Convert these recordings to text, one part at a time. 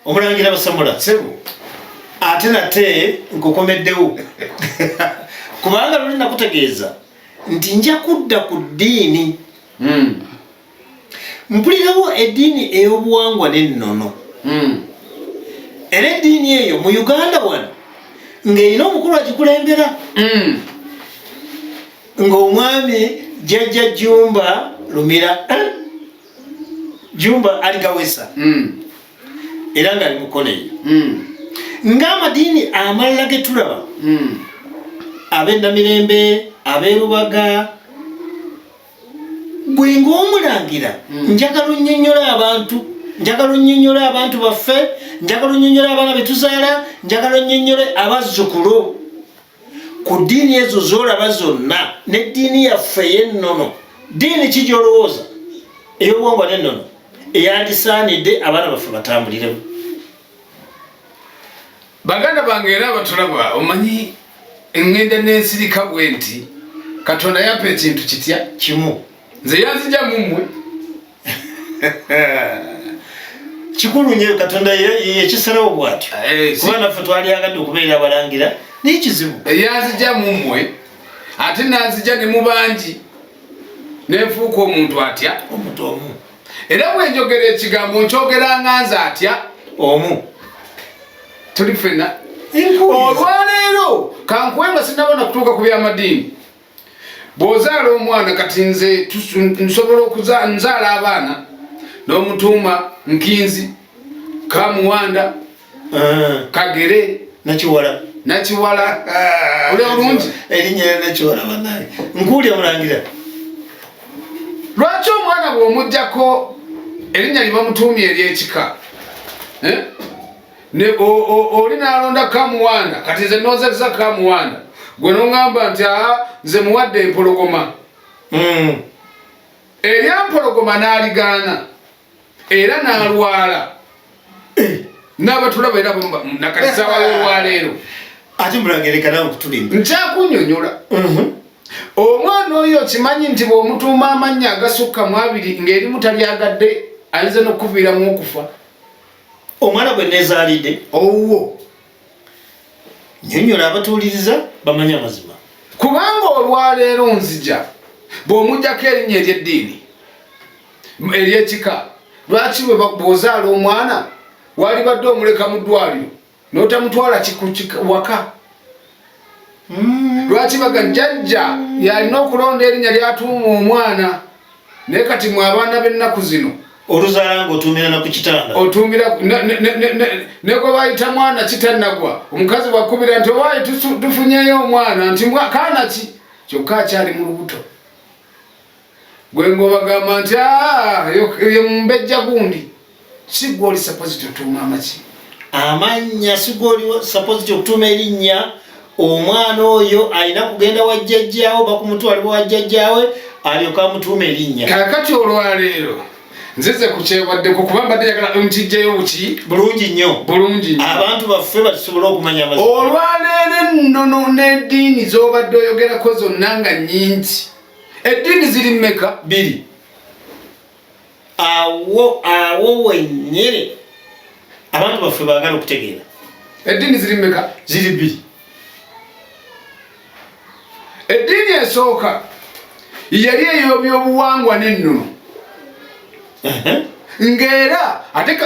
omulangira basamula sebo ate nate nkukomeddewo kubanga luli nakutegeeza nti nja kudda ku ddiini hmm. mpulirawo eddiini ey'obuwangwa n'ennono hmm. era eddiini eyo mu uganda wano ng'erina omukulu agikulembera hmm. ng'omwami jajja jumba lumira eh? jumba aligawesa mm. era nga ali mukono eyo mm. ng'amadiini amalala ge tulaba mm. ab'ennamirembe ab'erubaga gwe ng'omulangira mm. njagala onnyonnyola abantu njagala onnyonnyola abantu baffe njagala onnyonnyola abaana be tuzaala njagala onnyonnyole abazzukulu ku ddiini ezo zolaba zonna neddiini yaffe yennono ddiini kijolowooza eyobwongo nennono eyandisaanidde abaana baffe batambuliremu baganda bange era abatulaba omanyi engenda nensirika bwe nti katonda yampa ekintu kitya kimu nze yanzija mumwe kikulu nyo katonda yekisalawo bwatyo eh, kuba naffe twali agadde okubeera abalangira naye kizibu eh, yanzija mumwe ate nanzija ne mubangi nenfuuka omuntu atya omuntu omu era bwenjogera ekigambo nkyogera nga nze atya omu tuli fena olwaleero kankuwe nga sinabona kutuuka ku byamadiini bw'ozaala omwana kati nze nsobola okuzaala abaana n'omutuuma nkinzi kamuwanda eh. kagere nakiwala nakiwala eh. oli obulungi erinnya era nakiwala banaye nkuwulya mulangira lwaki omwana bw'omugjako erinnya libamutuumya ery'ekika eh? ne oli nalonda kamuwanda kati nze nozesa kamuwanda gwe nongamba nti aa nze muwadde empologoma hmm. erya mpologoma naligaana era nalwala eh. nabatulaba era nakatisabalolwaleero ati mulagerekanawe kutulimba nkyakunyonyola mhm. omwana oyo okimanyi nti bwomutuuma amannya agasukka mu abiri ng'erimu talyagadde ayinza nokuviiramu okufa omwana gwe nezaalidde owuwo nyonyola abatuuliriza bamanye amazima kubanga olwaleero nzija bw'omugyako erinnya ery'eddiini ery'ekika lwaki bwozaala omwana walibadde omuleka mu ddwaliro notamutwala waka mm. lwaki baga jajja yalina okulonda erinya lyatuuma omwana naye kati mwe abaana b'ennaku zino oluzala nga otuumira naku kitanda otuumira negwe bayita mwana kitannagwa omukazi wakubira nti owaye tufunyeyo omwana nti kaana ki kyokka akyali mu lubuto gwe ngobagamba nti ah, ye mumbejja gundi sigwe oli sapoziti otuuma amaki amannya sigwe oli sapoziti okutuuma erinnya omwana oyo alina kugenda wa jjajjaawe bakumutwalibwa wa jjajjaawe alyoka amutuuma erinnya kakati olwaleero nzize kukyebaddeko kuba mbadde yagala nkijjayo buki bulungi nnyo bulungi nnyo abantu baffe batusobole okumanya olwaleero ennono n'eddiini z'obadde oyogerako zonna nga nnyingi eddiini ziri meka biri awo awo wenyini abantu baffe bagala okutegeera eddiini ziri meka ziri bbiri eddiini esooka yali eyobyobuwangwa n'ennono ng'era ate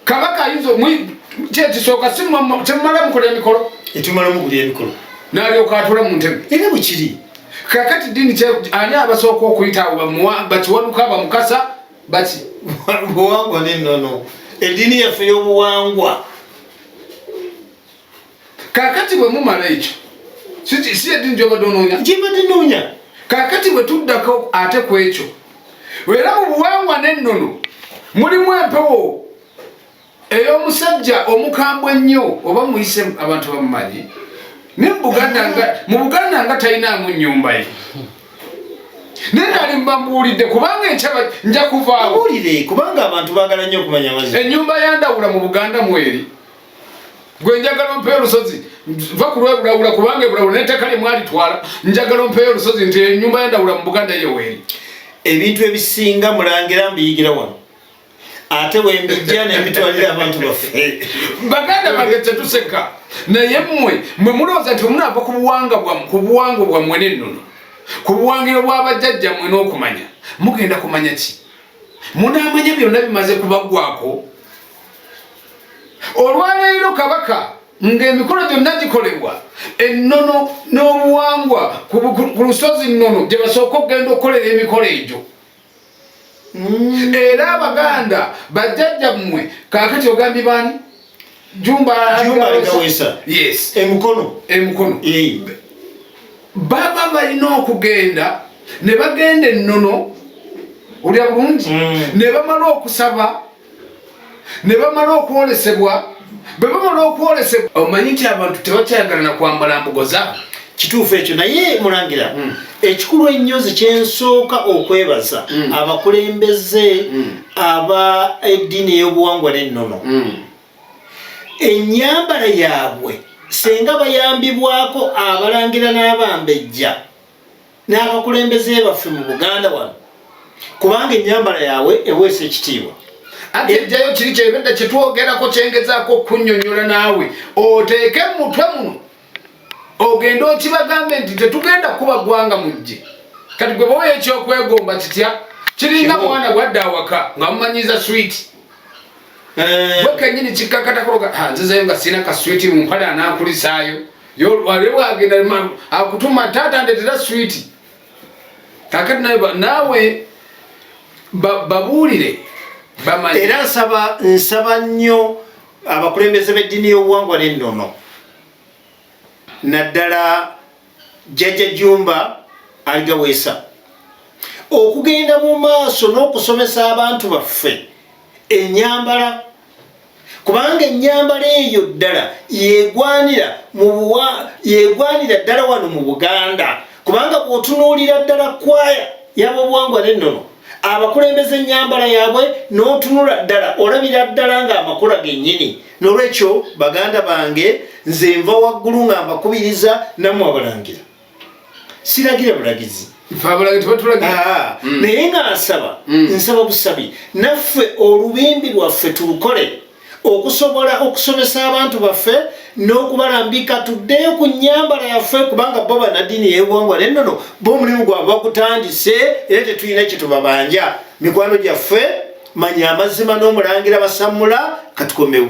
kabaka ayinza kyekisooka kyemumala mukola emikolo etumala mukuli emikolo nalyoka atula mu ntebe era bwekiri kakati dini ani abasooka okuyita bakiwanuka bamukasa baki buwangwa nenono edini yaffe yobuwangwa Kakati bwe mumala ekyo si yedini gyobadde onoonya gyebadde noonya kakati bwe tuddako ate ku ekyo era mu buwangwa n'ennono mulimu empewo ey'omusajja omukambwe ennyo oba muyise abantu bamumanyi naye mu buganda nga talinaamu nnyumba ye naye nali mbambuulidde kubanga enkyaba nja kuvaawo kubanga abantu baagala nnyo okumanya ennyumba yandawula mu buganda mweri gwe njagala ompeyo olusozi va ku lwebulawula kubanga ebulawula nettaka lye mwalitwala njagala ompeyo olusozi nti enyumba yendawula mu buganda yeweeri ebintu ebisinga mulangira mbiyigira wano ate wembijja nemitwalira abantu baffe baganda bange tetuseka naye mmwe mwe mulowooza nti omunaava ku buwanga bwam ku buwango bwammwe n'ennono ku buwangiro bw'abajjajja mmwe n'okumanya mugenda kumanya ki munaamanya byonna bimaze kubaggwako olwaleero kabaka ng'emikolo gyonna gikolebwa ennono n'obuwangwa ku lusozi nnono gye basooka okugenda okukolera emikolo egyo mm. era abaganda bajjajja mmwe kaakati ogambye baani jumbaawesa yes emukono emukono baba balina okugenda ne bagenda ennono olya bulungi mm. ne bamala okusaba ne bamala okwolesebwa bwe bamala okwolesebwa omanyi nti abantu tebakyayagala na kwambala mbugo zaabwe kituufu ekyo naye mulangira hmm. ekikulu ennyo nze kyensooka okwebaza hmm. abakulembeze hmm. aba eddiini ey'obuwangwa n'ennono ennyambala yaabwe senga bayambibwako abalangira n'abambejja n'abakulembeze baffe mu buganda wano kubanga enyambala yaabwe eweesa ekitiibwa ate ejjayo kiri kyebedda kyetwogerako kyengezaako okunyonyola naawe oteeke mumutwe muno ogende okibagambe nti tetugenda kuba gwanga mujje kati gwe bawa ekyokwegomba kitya kiringa mwana gwadde awaka nga mumanyiza switi eh. gwe kenyini kikkakatakoga nzizeyo nga sirina kaswiti mumpale anakulisaayo yolwale bwagenda ma- akutuma taata ndetera switi kakati nawe ba- naawe ba- babuulire bamanye era nsaba nsaba nnyo abakulembeze b'eddiini y'obuwangwa n'ennono naddala jjajja jumba aligaweesa okugenda mu maaso n'okusomesa abantu baffe enyambala kubanga ennyambala eyo ddala yegwanira mubuwa yegwanira ddala wano mu buganda kubanga bwotunuulira ddala kwaya yabobuwangwa nennono abakulembeza ennyambala yaabwe n'otunula ddala olabira ddala ng'amakula gennyini n'olwekyo baganda bange nze nva waggulu nga mbakubiriza nammwe abalangira siragira bulagizi ah, ah. mm. naye nga nsaba mm. nsaba busabi naffe olubimbi lwaffe tulukole okusobola okusomesa abantu baffe n'okubalambika tuddeyo ku nyambala yaffe kubanga bo banadini yebuwangwa nennono bo omulimu gwabwe bakutandise era tetulina kyetubabanja mikwano gyaffe manya amazima n'omulangira basamula katukomewo